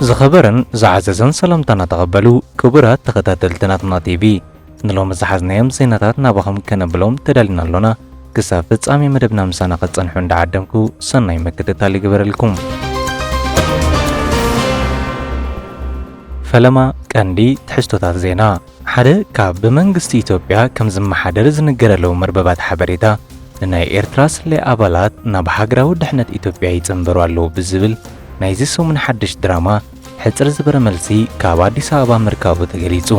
ዝኸበረን ዝዓዘዘን ሰላምታና ተቐበሉ ክቡራት ተኸታተልቲ ናትና ቲቪ ንሎሚ ዝሓዝናዮም ዜናታት ናባኹም ከነብሎም ተዳሊና ኣሎና። ክሳብ ፍጻሜ መደብና ምሳና ኸትጸንሑ እንዳዓደምኩ ሰናይ ምክትታል ይግበረልኩም። ፈለማ ቀንዲ ትሕዝቶታት ዜና ሓደ ካብ ብመንግስቲ ኢትዮጵያ ከም ዝመሓደር ዝንገረሎም መርበባት ሓበሬታ፣ ንናይ ኤርትራ ስለያ ኣባላት ናብ ሃገራዊ ድሕነት ኢትዮጵያ ይጽንበሩ ኣለዉ ብዝብል ናይዚ ሰሙን ሓድሽ ድራማ ሕጽር ዝበረ መልሲ ካብ ኣዲስ ኣበባ ምርካቡ ተገሊጹ።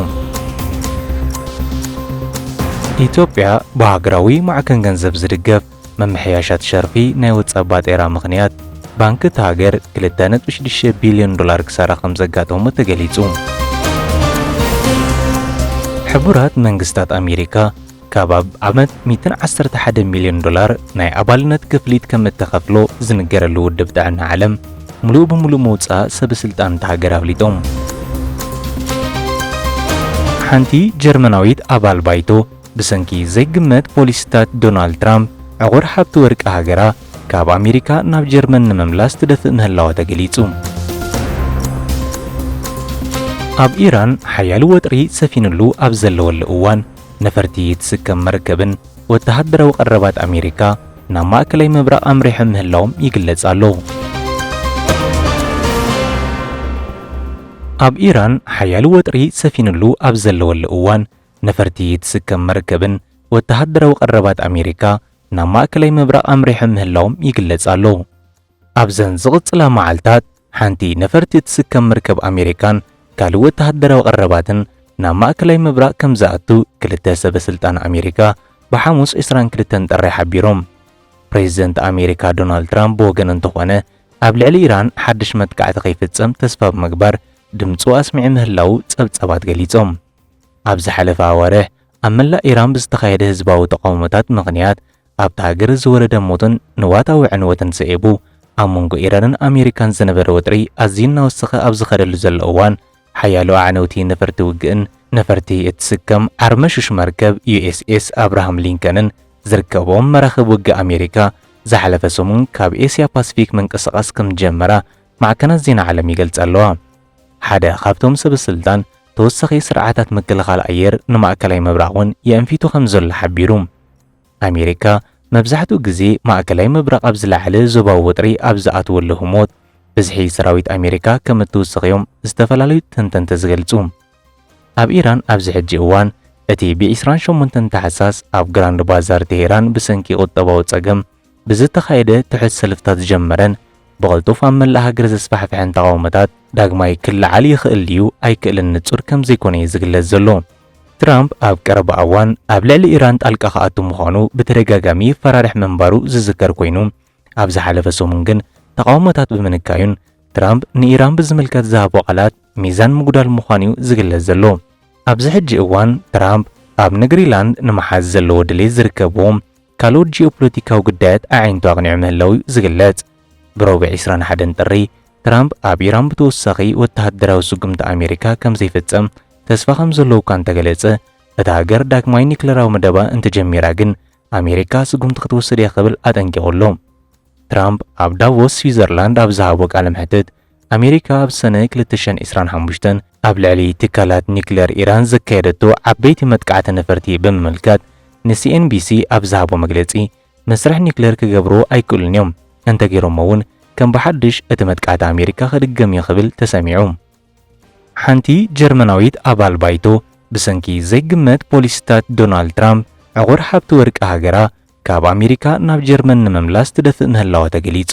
ኢትዮጵያ ብሃገራዊ ማዕከን ገንዘብ ዝድገፍ ምምሕያሻት ሸርፊ ናይ ወጻእ ባጤራ ምኽንያት ባንኪ እታ ሃገር ክልተ ነጥቢ ሽዱሽተ ቢልዮን ዶላር ክሳራ ከምዘጋጠሞ ተገሊጹ። ሕቡራት መንግስታት ኣሜሪካ ካብ ኣብ ዓመት 111 ሚልዮን ዶላር ናይ ኣባልነት ክፍሊት ከም እተኸፍሎ ዝንገረሉ ውድብ ጥዕና ዓለም ምሉእ ብምሉእ ምውፃእ ሰበስልጣን እታ ሃገር ኣፍሊጦም። ሓንቲ ጀርመናዊት ኣባል ባይቶ ብሰንኪ ዘይግመት ፖሊሲታት ዶናልድ ትራምፕ፣ ዕቑር ሃብቲ ወርቂ ሃገራ ካብ ኣሜሪካ ናብ ጀርመን ንምምላስ ትደፍእ ምህላዋ ተገሊጹ። ኣብ ኢራን ሓያል ወጥሪ ሰፊንሉ ኣብ ዘለወሉ እዋን ነፈርቲ ትስከም መርከብን ወተሃደራዊ ቀረባት ኣሜሪካ ናብ ማእከላይ ምብራቕ ኣምሪሖም ምህላዎም ይግለጽ ኣሎ። ኣብ ኢራን ሓያል ወጥሪ ሰፊንሉ ኣብ ዘለወሉ እዋን ነፈርቲ ትስከም መርከብን ወተሃደራዊ ቀረባት ኣሜሪካ ናብ ማእከላይ ምብራቕ ኣምሪሖም ምህላዎም ይግለጽ ኣሎ። ኣብዘን ዝቕጽላ መዓልታት ሓንቲ ነፈርቲ ትስከም መርከብ ኣሜሪካን ካልእ ወተሃደራዊ ቀረባትን ናብ ማእከላይ ምብራቕ ከም ዝኣቱ ክልተ ሰበ ስልጣን ኣሜሪካ ብሓሙስ ዕስራን ክልተን ጥሪ ሓቢሮም። ፕሬዝደንት ኣሜሪካ ዶናልድ ትራምፕ ብወገኑ እንተኾነ ኣብ ልዕሊ ኢራን ሓድሽ መጥቃዕቲ ከይፍጸም ተስፋ ብምግባር ድምጹ ኣስሚዑ ምህላዉ ጸብጻባት ገሊጾም። ኣብ ዝሓለፈ ኣዋርሕ ኣብ መላእ ኢራን ብዝተኻየደ ህዝባዊ ተቓውሞታት ምኽንያት ኣብታ ሃገር ዝወረደ ሞትን ንዋታዊ ዕንወትን ስዒቡ ኣብ መንጎ ኢራንን ኣሜሪካን ዝነበረ ወጥሪ ኣዝዩ እናወሰኸ ኣብ ዝኸደሉ ዘሎ እዋን ሓያሎ ኣዕነውቲ ነፈርቲ ውግእን ነፈርቲ እትስከም ዓርመሹሽ መርከብ ዩኤስኤስ ኣብርሃም ሊንከንን ዝርከብኦም መራኽብ ውግእ ኣሜሪካ ዝሓለፈ ሰሙን ካብ ኤስያ ፓስፊክ ምንቅስቓስ ከም ዝጀመራ ማዕከናት ዜና ዓለም ይገልጻ ኣለዋ። ሓደ ካብቶም ሰበስልጣን፣ ተወሳኺ ስርዓታት ምክልኻል ኣየር ንማእከላይ ምብራቕ እውን የእንፊቱ ከም ዘሎ ሓቢሩ። ኣሜሪካ፣ መብዛሕትኡ ግዜ ማእከላይ ምብራቕ ኣብ ዝለዓለ ዞባዊ ወጥሪ ኣብ ዝኣትወሉ ህሞት፣ ብዝሒ ሰራዊት ኣሜሪካ ከም እትውስኽ እዮም ዝተፈላለዩ ተንተንቲ ዝገልጹ። ኣብ ኢራን ኣብዚ ሕጂ እዋን፣ እቲ ብ ዕስራን ሸሞንተን ታሕሳስ ኣብ ግራንድ ባዛር ቴህራን ብሰንኪ ቁጠባዊ ጸገም ብዝተኻየደ ትሑት ሰልፍታት ዝጀመረን ብቐልጡፍ ኣብ መላእ ሃገር ዘስፋሕፍሐን ተቓውሞታት ዳግማይ ክለዓል ይኽእል ድዩ ኣይክእልን ንጹር ከም ዘይኮነ እዩ ዝግለጽ ዘሎ። ትራምፕ ኣብ ቀረባ እዋን ኣብ ልዕሊ ኢራን ጣልቃ ክኣቱ ምዃኑ ብተደጋጋሚ ይፈራርሕ ምንባሩ ዝዝከር ኮይኑ፣ ኣብ ዝሓለፈ ሰሙን ግን ተቓውሞታት ብምንካዩን ትራምፕ ንኢራን ብዝምልከት ዝሃቦ ቃላት ሚዛን ምጉዳል ምዃኑ እዩ ዝግለጽ ዘሎ። ኣብዚ ሕጂ እዋን ትራምፕ ኣብ ንግሪላንድ ንምሓዝ ዘለዎ ድሌት ዝርከብዎም ካልኦት ጂኦፖለቲካዊ ግዳያት ኣዒንቱ ኣቕኒዑ ምህላዉ'ዩ ዝግለጽ። ብረቡዕ ዕስራን ሓደን ጥሪ፣ ትራምፕ ኣብ ኢራን ብተወሳኺ ወተሃደራዊ ስጉምቲ ኣሜሪካ ከም ዘይፍጽም ተስፋ ከም ዘለዎ'ኳ እንተገለጸ፣ እታ ሃገር ዳግማይ ኒክለራዊ መደባ እንተጀሚራ ግን ኣሜሪካ ስጉምቲ ክትወስድ'ያ ክብል ኣጠንቂቑ ኣሎ። ትራምፕ ኣብ ዳቮስ ስዊዘርላንድ ኣብ ዝሃቦ ቃለ መሕትት፣ ኣሜሪካ ኣብ ሰነ ክልተ ሽሕን ዕስራን ሓሙሽተን ኣብ ልዕሊ ትካላት ኒክለር ኢራን ዘካየደቶ ዓበይቲ መጥቃዕቲ ነፈርቲ ብምምልካት ንሲኤንቢሲ ኣብ ዝሃቦ መግለጺ፣ መስርሕ ኒክለር ክገብርዎ ኣይክእሉን እዮም፣ እንተገይሮሞ'ውን ከም ብሓድሽ እቲ መጥቃዕቲ ኣሜሪካ ክድገም እዩ ክብል ተሰሚዑ። ሓንቲ ጀርመናዊት ኣባል ባይቶ ብሰንኪ ዘይግመት ፖሊሲታት ዶናልድ ትራምፕ ዕቑር ሃብቲ ወርቂ ሃገራ ካብ ኣሜሪካ ናብ ጀርመን ንምምላስ ትደፍእ ምህላዋ ተገሊጹ።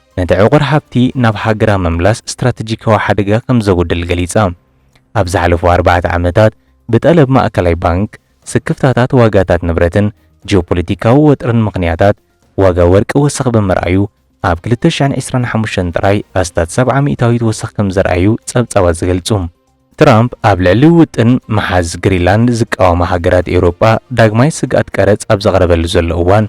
ነቲ ዕቑር ሃብቲ ናብ ሃገራ ምምላስ ስትራተጂካዊ ሓደጋ ከም ዘጉድል ገሊጻ። ኣብ ዝሓለፉ ኣርባዕተ ዓመታት ብጠለብ ማእከላይ ባንክ፣ ስክፍታታት ዋጋታት ንብረትን ጂኦፖለቲካዊ ወጥርን ምኽንያታት ዋጋ ወርቂ ወሰኽ ብምርኣዩ ኣብ ክልተ ሽሕን ዕስራን ሓሙሽተን ጥራይ ኣስታት ሰብዓ ሚእታዊት ወሰኽ ከም ዘርኣዩ ጸብጻባት ዝገልጹ። ትራምፕ ኣብ ልዕሊ ውጥን ምሓዝ ግሪንላንድ ዝቃወማ ሃገራት ኤውሮጳ ዳግማይ ስግኣት ቀረጽ ኣብ ዘቕረበሉ ዘሎ እዋን፣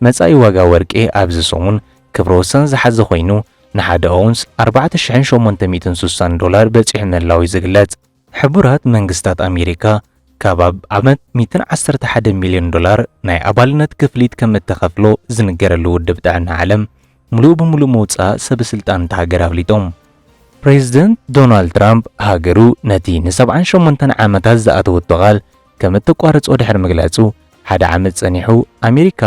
መጻኢ ዋጋ ወርቂ ኣብዚ ሰሙን ክብረ ወሰን ዝሓዘ ኮይኑ ንሓደ ኣውንስ ኣርባዕተ ሽሕን ሸሞንተ ሚእትን ስሳን ዶላር በጺሑ ምህላዉ'ዩ ዝግለጽ። ሕቡራት መንግስታት ኣሜሪካ ካብ ኣብ ዓመት ሚእትን ዓሰርተ ሓደን ሚልዮን ዶላር ናይ ኣባልነት ክፍሊት ከም እተኸፍሎ ዝንገረሉ ውድብ ጥዕና ዓለም፣ ምሉእ ብምሉእ ምውጻእ ሰበስልጣን እታ ሃገር ኣፍሊጦም። ፕሬዝደንት ዶናልድ ትራምፕ ሃገሩ ነቲ ንሰብዓን ሸሞንተን ዓመታት ዝኣተወቶ ቃል ከም እተቋርጾ ድሕሪ ምግላጹ፣ ሓደ ዓመት ጸኒሑ ኣሜሪካ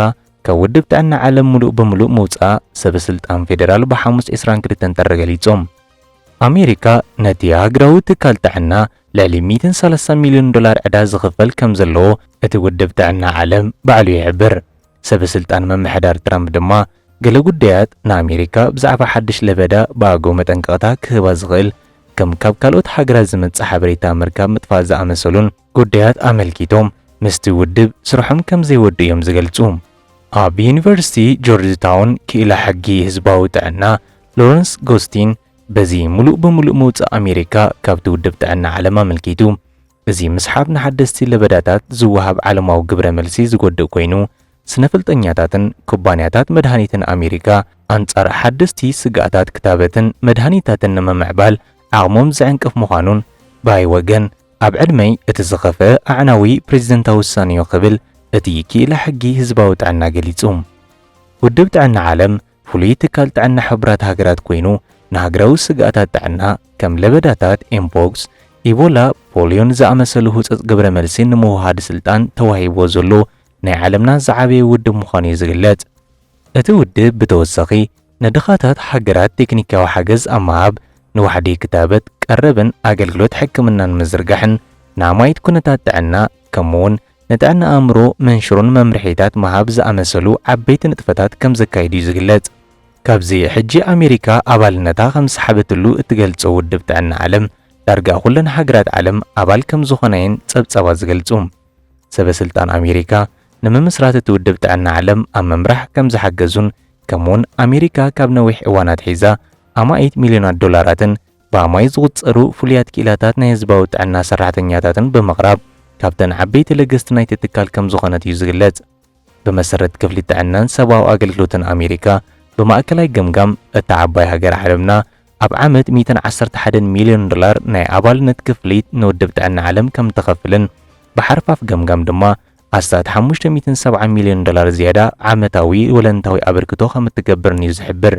ካብ ውድብ ጥዕና ዓለም ምሉእ ብምሉእ ምውጻኣ ሰበስልጣን ፌደራል ብሓሙስ ዕስራን ክልተን ጥሪ ገሊጾም። ኣሜሪካ ነቲ ሃገራዊ ትካል ጥዕና ልዕሊ 130 ሚልዮን ዶላር ዕዳ ዝኽፈል ከም ዘለዎ እቲ ውድብ ጥዕና ዓለም ባዕሉ ይሕብር። ሰበስልጣን ምምሕዳር ትራምፕ ድማ ገለ ጉዳያት ንኣሜሪካ ብዛዕባ ሓድሽ ለበዳ ብኣገው መጠንቀቕታ ክህባ ዝኽእል ከም ካብ ካልኦት ሃገራት ዝመጽእ ሓበሬታ ምርካብ ምጥፋእ ዝኣመሰሉን ጉዳያት ኣመልኪቶም ምስቲ ውድብ ስርሖም ከም ዘይወድኡ እዮም ዝገልጹ። ኣብ ዩኒቨርሲቲ ጆርጅ ታውን ክኢላ ሕጊ ህዝባዊ ጥዕና ሎረንስ ጎስቲን በዚ ምሉእ ብምሉእ ምውጻእ ኣሜሪካ ካብቲ ውድብ ጥዕና ዓለም ኣመልኪቱ እዚ ምስሓብ ንሓደስቲ ለበዳታት ዝወሃብ ዓለማዊ ግብረ መልሲ ዝጎድእ ኮይኑ፣ ስነፍልጠኛታትን ኩባንያታት መድሃኒትን ኣሜሪካ ኣንጻር ሓደስቲ ስግኣታት ክታበትን መድሃኒታትን ንምምዕባል ዓቕሞም ዝዕንቅፍ ምዃኑን ብይ ወገን ኣብ ዕድመይ እቲ ዝኸፍኣ ኣዕናዊ ፕረዚደንታዊ ውሳኔዮ ክብል እቲ ክኢላ ሕጊ ህዝባዊ ጥዕና ገሊጹ። ውድብ ጥዕና ዓለም ፍሉይ ትካል ጥዕና ሕቡራት ሃገራት ኮይኑ ንሃገራዊ ስግኣታት ጥዕና ከም ለበዳታት ኤምፖክስ፣ ኢቦላ፣ ፖልዮን ዝኣመሰሉ ህጹጽ ግብረ መልሲ ንምውሃድ ስልጣን ተዋሂብዎ ዘሎ ናይ ዓለምና ዝዓበየ ውድብ ምዃኑ እዩ ዝግለጽ። እቲ ውድብ ብተወሳኺ ንድኻታት ሃገራት ቴክኒካዊ ሓገዝ ኣብ ምሃብ፣ ንዋሕዲ ክታበት፣ ቀረብን ኣገልግሎት ሕክምናን ምዝርጋሕን፣ ንኣማኢት ኩነታት ጥዕና ከምኡ'ውን ንጥዕና ኣእምሮ መንሽሮን መምርሒታት ምሃብ ዝኣመሰሉ ዓበይቲ ንጥፈታት ከም ዘካይድ እዩ ዝግለጽ። ካብዚ ሕጂ ኣሜሪካ ኣባልነታ ከም ዝሰሓበትሉ እትገልጾ ውድብ ጥዕና ዓለም፣ ዳርጋ ኩለን ሃገራት ዓለም ኣባል ከም ዝኾና እየን ጸብጻባት ዝገልጹ። ሰበ ስልጣን ኣሜሪካ ንምምስራት እቲ ውድብ ጥዕና ዓለም ኣብ ምምራሕ ከም ዝሓገዙን ከምኡውን ኣሜሪካ ካብ ነዊሕ እዋን ኣትሒዛ ኣማኢት ሚልዮናት ዶላራትን ብኣማኢት ዝቑጸሩ ፍሉያት ክኢላታት ናይ ህዝባዊ ጥዕና ሰራሕተኛታትን ብምቕራብ ካብተን ዓበይቲ ለገስቲ ናይቲ ትካል ከም ዝኾነት እዩ ዝግለጽ። ብመሰረት ክፍሊ ጥዕናን ሰብኣዊ ኣገልግሎትን ኣሜሪካ፣ ብማእከላይ ገምጋም፣ እታ ዓባይ ሃገር ዓለምና ኣብ ዓመት ሚእትን ዓሰርተ ሓደን ሚልዮን ዶላር ናይ ኣባልነት ክፍሊት ንውድብ ጥዕና ዓለም ከም እትኸፍልን ብሓርፋፍ ገምጋም ድማ ኣስታት ሓሙሽተ ሚእትን ሰብዓን ሚልዮን ዶላር ዝያዳ ዓመታዊ ወለንታዊ ኣበርክቶ ከም እትገብርን እዩ ዝሕብር።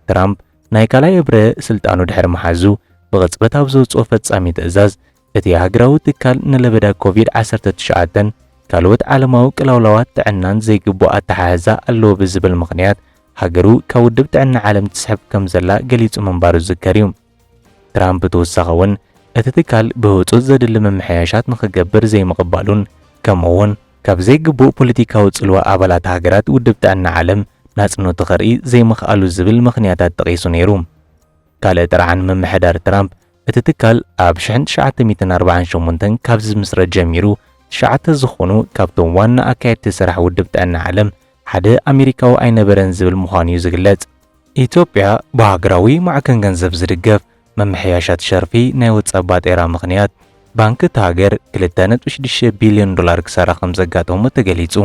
ትራምፕ ናይ ካልኣይ እብረ ስልጣኑ ድሕሪ ምሓዙ ብቕጽበት ኣብ ዘውጽኦ ፈጻሚ ትእዛዝ እቲ ሃገራዊ ትካል ንለበዳ ኮቪድ ዓሰርተ ትሽዓተን ካልኦት ዓለማዊ ቅላውላዋት ጥዕናን ዘይግቡእ ኣተሓሕዛ ኣለዎ ብዝብል ምኽንያት ሃገሩ ካብ ውድብ ጥዕና ዓለም ትስሕብ ከም ዘላ ገሊጹ ምንባሩ ዝዝከር እዩ። ትራምፕ ብተወሳኺ እውን እቲ ትካል ብህጹጽ ዘድሊ ምምሕያሻት ንኽገብር ዘይምቕባሉን ከምኡ'ውን ካብ ዘይግቡእ ፖለቲካዊ ጽልዋ ኣባላት ሃገራት ውድብ ጥዕና ዓለም ናጽነቱ ከርኢ ዘይምኽኣሉ ዝብል ምኽንያታት ጠቒሱ ነይሩ። ካልእ ጥርዓን ምምሕዳር ትራምፕ፣ እቲ ትካል ኣብ ሽሕን ትሽዓተ ሚእትን ኣርባዓን ሸሞንተን ካብ ዝምስረት ጀሚሩ ትሽዓተ ዝኾኑ ካብቶም ዋና ኣካየድቲ ስራሕ ውድብ ጥዕና ዓለም ሓደ ኣሜሪካዊ ኣይነበረን ዝብል ምዃኑ'ዩ ዝግለጽ። ኢትዮጵያ ብሃገራዊ ማዕከን ገንዘብ ዝድገፍ ምምሕያሻት ሸርፊ ናይ ወጻኢ ባጤራ ምኽንያት ባንኪ እታ ሃገር ክልተ ነጥቢ ሽዱሽተ ቢልዮን ዶላር ክሳራ ከም ዘጋጠሞ ተገሊጹ።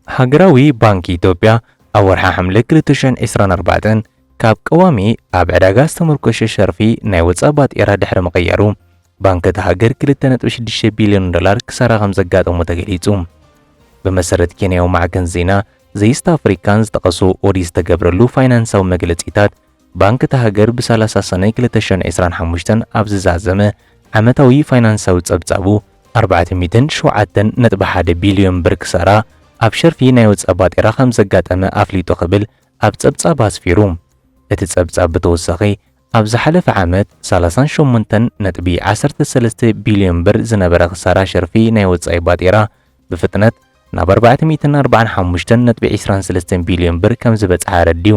ሃገራዊ ባንኪ ኢትዮጵያ ኣብ ወርሒ ሓምለ ክልተ ሽሕን ዕስራን ኣርባዕተን ካብ ቀዋሚ ኣብ ዕዳጋ ዝተመርኮሸ ሸርፊ ናይ ወጻኢ ባጤራ ድሕሪ ምቕያሩ ባንኪ እታ ሃገር ክልተ ነጥቢ ሽዱሽተ ቢልዮን ዶላር ክሳራ ከም ዘጋጠሞ ተገሊጹ። ብመሰረት ኬንያዊ ማዕከን ዜና ዘኢስት ኣፍሪካን ዝጠቐሶ ኦዲት ዝተገብረሉ ፋይናንሳዊ መግለጺታት ባንክ እታ ሃገር ብ ሰላሳ ሰኑይ ክልተ ሽሕን ዕስራን ሓሙሽተን ኣብ ዝዛዘመ ዓመታዊ ፋይናንሳዊ ጸብጻቡ፣ ኣርባዕተ ሚእትን ሸውዓተን ነጥቢ ሓደ ቢልዮን ብር ክሳራ ኣብ ሸርፊ ናይ ወጻኢ ባጤራ ከምዘጋጠመ ኣፍሊጡ ክብል ኣብ ጸብጻብ ኣስፊሩ። እቲ ጸብጻብ ብተወሳኺ፣ ኣብ ዝሓለፈ ዓመት፣ ሰላሳን ሸሞንተን ነጥቢ ዓሰርተ ሰለስተ ቢልዮን ብር ዝነበረ ክሳራ ሸርፊ ናይ ወጻኢ ባጤራ ብፍጥነት ናብ ኣርባዕተ ሚእትን ኣርባዓን ሓሙሽተን ነጥቢ ዕስራን ሰለስተን ቢልዮን ብር ከምዝበጽሐ ኣረዲኡ።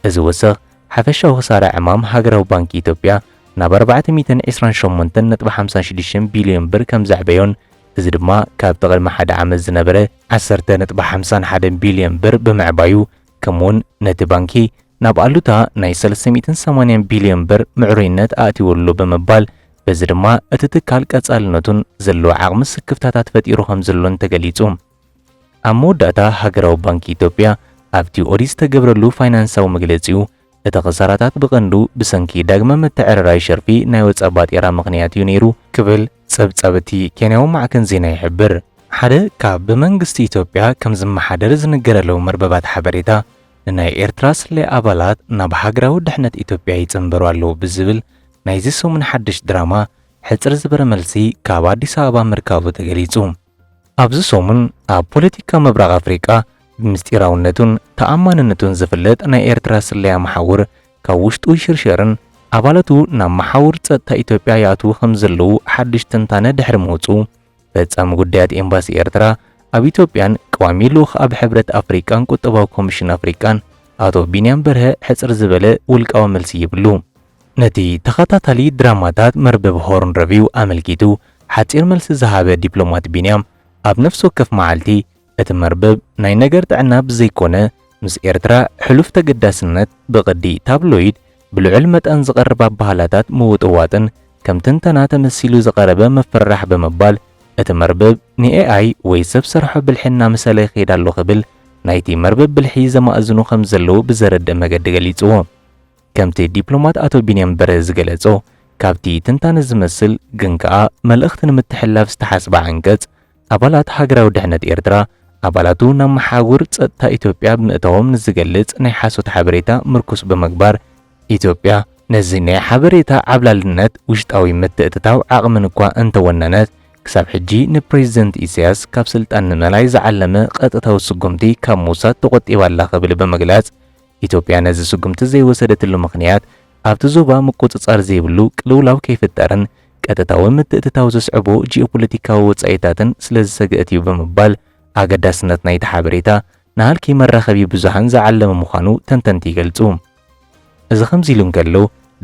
እዚ ወሰኽ ሓፈሻዊ ክሳራ ዕማም ሃገራዊ ባንኪ ኢትዮጵያ ናብ ኣርባዕተ ሚእትን ዕስራን ሸሞንተን ነጥቢ ሓምሳን ሽዱሽተን ቢልዮን ብር ከምዘዕበዮን እዚ ድማ ካብቲ ቅድሚ ሓደ ዓመት ዝነበረ ዓሰርተ ነጥቢ ሓምሳን ሓደን ቢልዮን ብር ብምዕባዩ ከምኡውን ነቲ ባንኪ ናብ ኣሉታ ናይ ሰለስተ ሚእትን ሰማንያን ቢልዮን ብር ምዕሩይነት ኣእትይዎ ኣሎ ብምባል በዚ ድማ እቲ ትካል ቀጻልነቱን ዘለዎ ዓቕሚ ስክፍታታት ፈጢሩ ከምዘሎን ተገሊጹ። ኣብ መወዳእታ ሃገራዊ ባንኪ ኢትዮጵያ ኣብቲ ኦዲት ዝተገብረሉ ፋይናንሳዊ መግለጺኡ፣ እቲ ክሳራታት ብቐንዱ ብሰንኪ ዳግመ ምትዕርራይ ሸርፊ ናይ ወጻእ ባጤራ ምኽንያት እዩ ነይሩ ክብል ጸብጻብ እቲ ኬንያዊ ማዕከን ዜና ይሕብር። ሓደ ካብ ብመንግስቲ ኢትዮጵያ ከም ዝመሓደር ዝንገረሎም መርበባት ሓበሬታ፣ ንናይ ኤርትራ ስለያ ኣባላት ናብ ሃገራዊ ድሕነት ኢትዮጵያ ይጽንበሩ ኣለዉ ብዝብል ናይዚ ሰሙን ሓድሽ ድራማ፣ ሕጽር ዝበረ መልሲ ካብ ኣዲስ ኣበባ ምርካቡ ተገሊጹ። ኣብዚ ሰሙን ኣብ ፖለቲካ ምብራቕ ኣፍሪቃ ብምስጢራውነቱን ተኣማንነቱን ዝፍለጥ ናይ ኤርትራ ስለያ መሓውር ካብ ውሽጡ ይሽርሸርን ኣባላቱ ናብ መሓውር ጸጥታ ኢትዮጵያ ይኣትዉ ከም ዘለዉ ሓድሽ ትንታነ ድሕሪ ምውጽኡ ፈጻሚ ጉዳያት ኤምባሲ ኤርትራ ኣብ ኢትዮጵያን ቀዋሚ ልኡኽ ኣብ ሕብረት ኣፍሪቃን ቁጠባዊ ኮሚሽን ኣፍሪቃን ኣቶ ቢንያም በርሀ ሕጽር ዝበለ ውልቃዊ መልሲ ይብሉ። ነቲ ተኸታታሊ ድራማታት መርበብ ሆርን ረቪው ኣመልኪቱ ሓጺር መልሲ ዝሃበ ዲፕሎማት ቢንያም፣ ኣብ ነፍሲ ወከፍ መዓልቲ፣ እቲ መርበብ ናይ ነገር ጥዕና ብዘይኮነ፣ ምስ ኤርትራ ሕሉፍ ተገዳስነት፣ ብቕዲ ታብሎይድ ብልዑል መጠን ዝቐርብ ኣባህላታት ምውጥዋጥን ከም ትንተና ተመሲሉ ዝቐረበ ምፍርራሕ ብምባል እቲ መርበብ ንኤኣይ ወይ ሰብ ሰርሖ ብልሒ እናመሰለ ይኸይድ ኣሎ ክብል ናይቲ መርበብ ብልሒ ዘማእዝኑ ከምዘለዉ ብዘረድእ መገዲ ገሊጽዎ። ከምቲ ዲፕሎማት ኣቶ ቢንያም በርሀ ዝገለጾ፣ ካብቲ ትንታነ ዝመስል ግን ከኣ መልእኽቲ ንምትሕልላፍ ዝተሓስበ ዓንቀጽ፣ ኣባላት ሃገራዊ ድሕነት ኤርትራ ኣባላቱ ናብ መሓውር ጸጥታ ኢትዮጵያ ብምእታዎም ንዝገልጽ ናይ ሓሶት ሓበሬታ ምርኩስ ብምግባር፣ ኢትዮጵያ ነዚ ናይ ሓበሬታ ዓብላልነት ውሽጣዊ ምትእትታው ዓቕምን እኳ እንተወነነት፣ ክሳብ ሕጂ ንፕረዚደንት ኢሳያስ ካብ ስልጣን ንምእላይ ዝዓለመ ቀጥታዊ ስጉምቲ ካብ ምውሳድ ተቖጢባ ኣላ ክብል ብምግላጽ፣ ኢትዮጵያ ነዚ ስጉምቲ ዘይወሰደትሉ ምኽንያት ኣብቲ ዞባ ምቁጽጻር ዘይብሉ ቅልውላው ከይፍጠርን ቀጥታዊ ምትእትታው ዘስዕቦ ጂኦፖለቲካዊ ወጻኢታትን ስለዝሰግእት እዩ ብምባል ኣገዳስነት ናይቲ ሓበሬታ ንሃልኪ መራኸቢ ብዙሃን ዝዓለመ ምዃኑ ተንተንቲ ይገልጹ። እዚ ከምዚ ኢሉ እንከሎ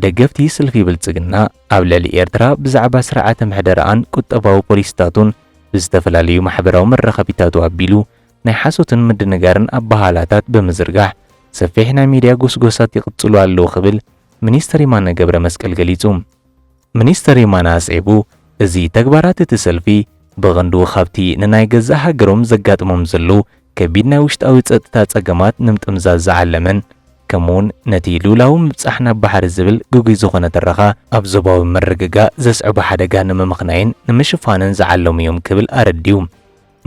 ደገፍቲ ስልፊ ብልጽግና ኣብ ልዕሊ ኤርትራ ብዛዕባ ስርዓተ ምሕደራኣን ቁጠባዊ ፖሊሲታቱን ብዝተፈላለዩ ማሕበራዊ መራኸቢታቱ ኣቢሉ ናይ ሓሶትን ምድንጋርን ኣበሃህላታት ብምዝርጋሕ ሰፊሕ ናይ ሚድያ ጎስጎሳት ይቕጽሉ ኣለዉ ክብል ሚኒስተር የማነ ገብረመስቀል ገሊጹ። ሚኒስተር የማነ ኣስዒቡ እዚ ተግባራት እቲ ሰልፊ ብቐንዱ ካብቲ ንናይ ገዛእ ሃገሮም ዘጋጥሞም ዘሎ ከቢድ ናይ ውሽጣዊ ጸጥታ ጸገማት ንምጥምዛዝ ዝዓለመን ከምኡ'ውን ነቲ ልኡላዊ ምብጻሕ ናብ ባሕሪ ዝብል ግጉይ ዝኾነ ትረኻ ኣብ ዞባዊ ምርግጋእ ዘስዕቦ ሓደጋ ንምምኽናይን ንምሽፋንን ዝዓለሙ እዮም ክብል ኣረዲኡ።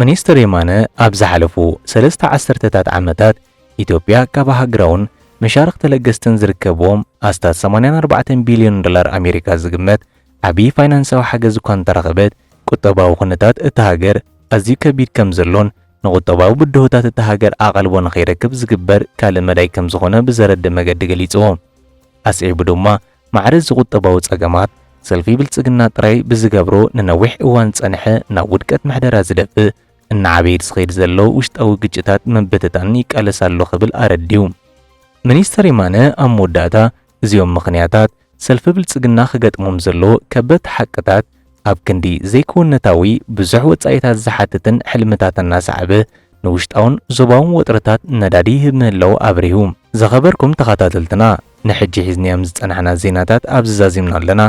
ሚኒስትር የማነ ኣብ ዝሓለፉ ሰለስተ ዓሰርተታት ዓመታት ኢትዮጵያ ካብ ኣህግራውን መሻርኽ ተለገስትን ዝርከብዎም ኣስታት ሰማንያን ኣርባዕተን ቢልዮን ዶላር ኣሜሪካ ዝግመት ዓብዪ ፋይናንሳዊ ሓገዝ እኳ እንተረኸበት ቁጠባዊ ኩነታት እታ ሃገር ኣዝዩ ከቢድ ከምዘሎን ንቁጠባዊ ብድሆታት እታ ሃገር ኣቓልቦ ንኸይረክብ ዝግበር ካልእ መዳይ ከምዝኾነ ብዘረድእ መገዲ ገሊጹዎ። ኣስዒቡ ድማ ማዕረ እዚ ቁጠባዊ ጸገማት፣ ሰልፊ ብልጽግና ጥራይ ብዝገብሮ ንነዊሕ እዋን ዝጸንሐ ናብ ውድቀት ምሕደራ ዝደፍእ እናዓበየ ዝኸይድ ዘሎ ውሽጣዊ ግጭታት ንምብትታን ይቃለስ ኣሎ ክብል ኣረዲኡ። ሚኒስተር የማነ ኣብ መወዳእታ፣ እዚኦም ምኽንያታት ሰልፊ ብልጽግና ክገጥሞም ዘለዎ ከበድቲ ሓቅታት፣ ኣብ ክንዲ ዘይክውንነታዊ ብዙሕ ወጻኢታት ዝሓትትን ሕልምታት እናሰዓበ ንውሽጣውን ዞባውን ወጥርታት ነዳዲ ይህብ ምህላዉ ኣብሪሁ። ዝኸበርኩም ተኻታተልትና ንሕጂ ሒዝኒኣም ዝጸናሕና ዜናታት ኣብዚ ዛዚምና ኣለና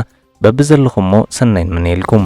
በብዘለኹሞ ሰናይ ንምነየልኩም።